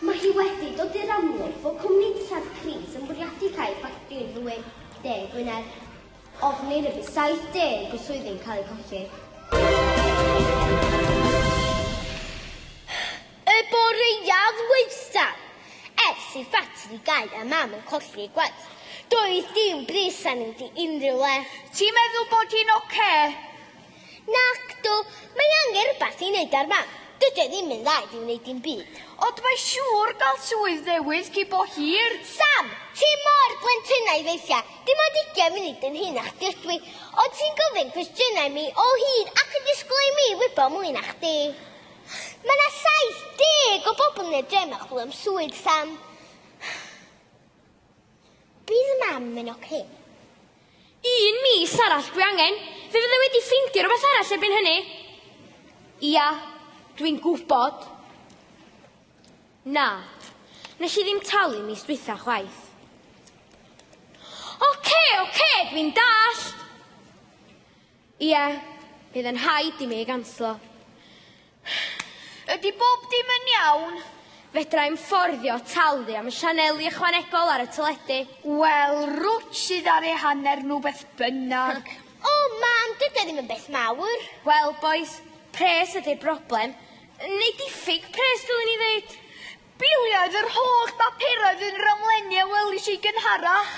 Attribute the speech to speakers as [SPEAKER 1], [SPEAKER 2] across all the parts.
[SPEAKER 1] Mae hi wedi dod i'r amlwg fod cwmni dillad Cris yn bwriadu cau ffactri'r ddwy de Gwynedd. Ofnir y bydd 70 o swyddi'n cael eu colli. i ffatri gau a mam yn colli gwaith. Doedd dim bris arni di unrhyw le. Ti'n meddwl bod
[SPEAKER 2] hi'n oce?
[SPEAKER 1] Nacdw, mae angen rhywbeth i wneud ar fam, dydy o ddim yn dda i fi wneud dim byd. Ond mae siŵr
[SPEAKER 2] gael swydd newydd cyn bo hir. Sam, ti
[SPEAKER 1] mor blentynnau weithia, dim ond ugian munud yn hŷn na chdi ydw i, ond ti'n gofyn cwestiynau i mi o hyd ac yn disgwyl i mi wybod mwy na chdi. Mae 'na 70 o bobl yn y dre 'ma chwilio am swydd, Sam. Bydd mam yn ok.
[SPEAKER 3] Un mis arall dwi angen. Fe fydda wedi ffindio rhywbeth arall erbyn hynny. Ia, dwi'n gwybod. Na, nes i ddim talu mis dwytha chwaith. Oce, oce, dwi'n dallt. Ie, bydd yn rhaid i mi ei ganslo.
[SPEAKER 2] Ydy bob dim yn iawn? Fedra i'm
[SPEAKER 3] fforddio talu am y sianeli ychwanegol ar y teledu. Wel,
[SPEAKER 2] rwt sydd ar ei hanner nhw beth bynnag. O, Mam,
[SPEAKER 1] dydy o ddim yn beth mawr. Wel, bois,
[SPEAKER 3] pres ydy'r broblem. Neu diffyg pres, dylwn i ddeud. Bwliodd yr
[SPEAKER 2] holl bapurau oedd yn ramlenni a welish i gynharach.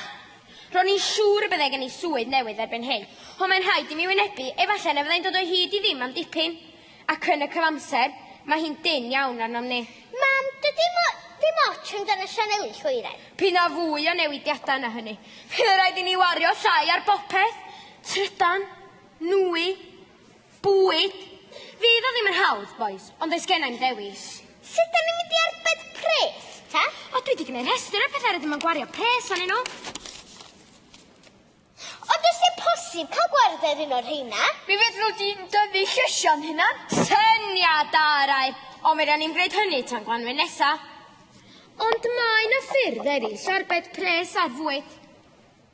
[SPEAKER 2] Ro'n i'n
[SPEAKER 3] siŵr y byddai gen i swydd newydd erbyn hyn, ond mae'n rhaid i mi wynebu, efallai na fyddai'n dod o hyd i ddim am dipyn. Ac yn y cyfamser, mae hi'n dynn iawn arnom ni. Mam, dydy mo-
[SPEAKER 1] ddim ots amdan y sianeli llwyren. P'un a fwy o
[SPEAKER 3] newidiadau na hynny, bydd yn rhaid i ni wario llai ar bopeth, trydan, nwy, Bwyd? Fydd o ddim yn hawdd, bois, ond does genna i'm ddewis. Sut da ni'n mynd i
[SPEAKER 1] arbed pres, ta? O, dwi di gwneud rhestr
[SPEAKER 3] o'r pethau rydym yn gwario pres anyn nhw.
[SPEAKER 1] Ond os yw'n posib cael gwrdd ar un o'r rheina? Mi fedrwn di'n
[SPEAKER 2] dyfu llysiau'n hunan. Syniad
[SPEAKER 3] da, yr air! Ond mi ran ni'n gwneud hynny tan Gwanwyn nesa. Ond mae yna ffyrdd eraill o arbed pres ar fwyd.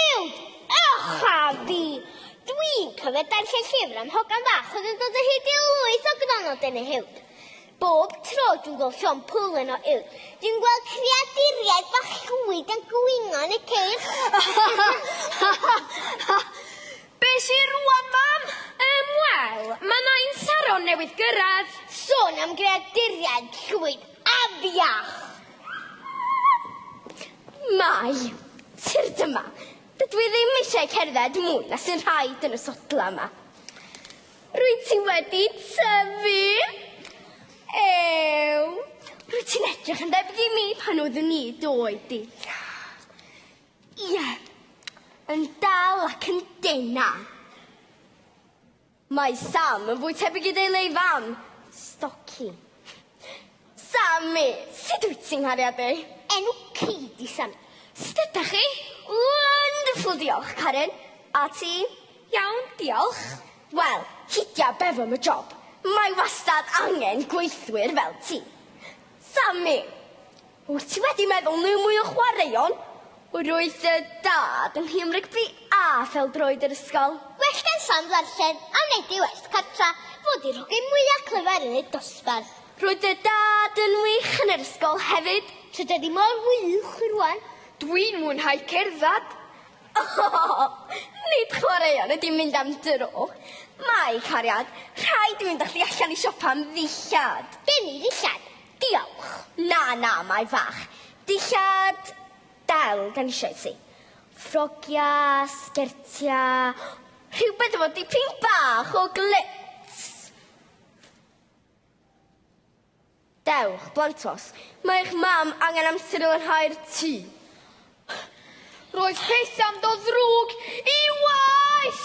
[SPEAKER 3] Uwd!
[SPEAKER 1] Ych a fi! Dwi'n cofio darllen llyfr am hogan fach oedd yn dod o hyd i lwyth o gronnod yn ei uwd. Bob tro dwi'n gweld llon pwlen o uwd, dwi'n gweld creaduriaid bach llwyd yn gwingo yn y ceir.
[SPEAKER 2] Be sy rwan, mam? Yym, wel,
[SPEAKER 3] mae na un Saron newydd gyrraedd. Sôn am
[SPEAKER 1] greaduriaid llwyd, afiach!
[SPEAKER 3] Mai! Tir dyma! Dydw i ddim eisiau cerdded mwy na sy'n rhaid yn y sodla yma. Rwyt ti wedi tyfu! Ew! Rwyt ti'n edrych yn debyg i mi pan oeddwn i doi di. Ie, yn dal ac yn dena. Mae Sam yn fwy tebyg i deulu ei fam, Stoci. Sami! Sut wyt ti, nghariadau? Enw ci
[SPEAKER 1] di Sami. Sut ydach chi?
[SPEAKER 3] Wonderful, diolch, Karen. A ti? Iawn, diolch. Wel, hidia beth am y job. Mae wastad angen gweithwyr fel ti. Sami! Wyt ti wedi meddwl neu mwy o chwaraeon? Roedd dy dad yn nhîm rygbi A phêl-droed yr ysgol. Well gan Sam
[SPEAKER 1] ddarllen a wneud ei waith cartra fod i'r hogyn mwyaf clyfar yn y dosbarth. Roedd dy dad
[SPEAKER 3] yn wych yn yr ysgol hefyd. Tydan ni mor
[SPEAKER 1] wych rwan. Dwi'n mwynhau
[SPEAKER 2] cerdded. Oh!
[SPEAKER 3] Nid chwaraeon ydy mynd am dro. Mae, cariad, rhaid i mi fynd â chdi allan i siopa am ddillad. Gen i ddillad.
[SPEAKER 1] Diolch. Na, na, mae
[SPEAKER 3] fach. Dillad del gen eisiau ti. Ffrogiau, sgertiau, rhywbeth efo dipyn bach o glits. Dewch, blantos. Mae eich mam angen amser i lanhau'r tŷ.
[SPEAKER 2] Roedd pethau'n
[SPEAKER 3] dod
[SPEAKER 2] ddrwg i waeth!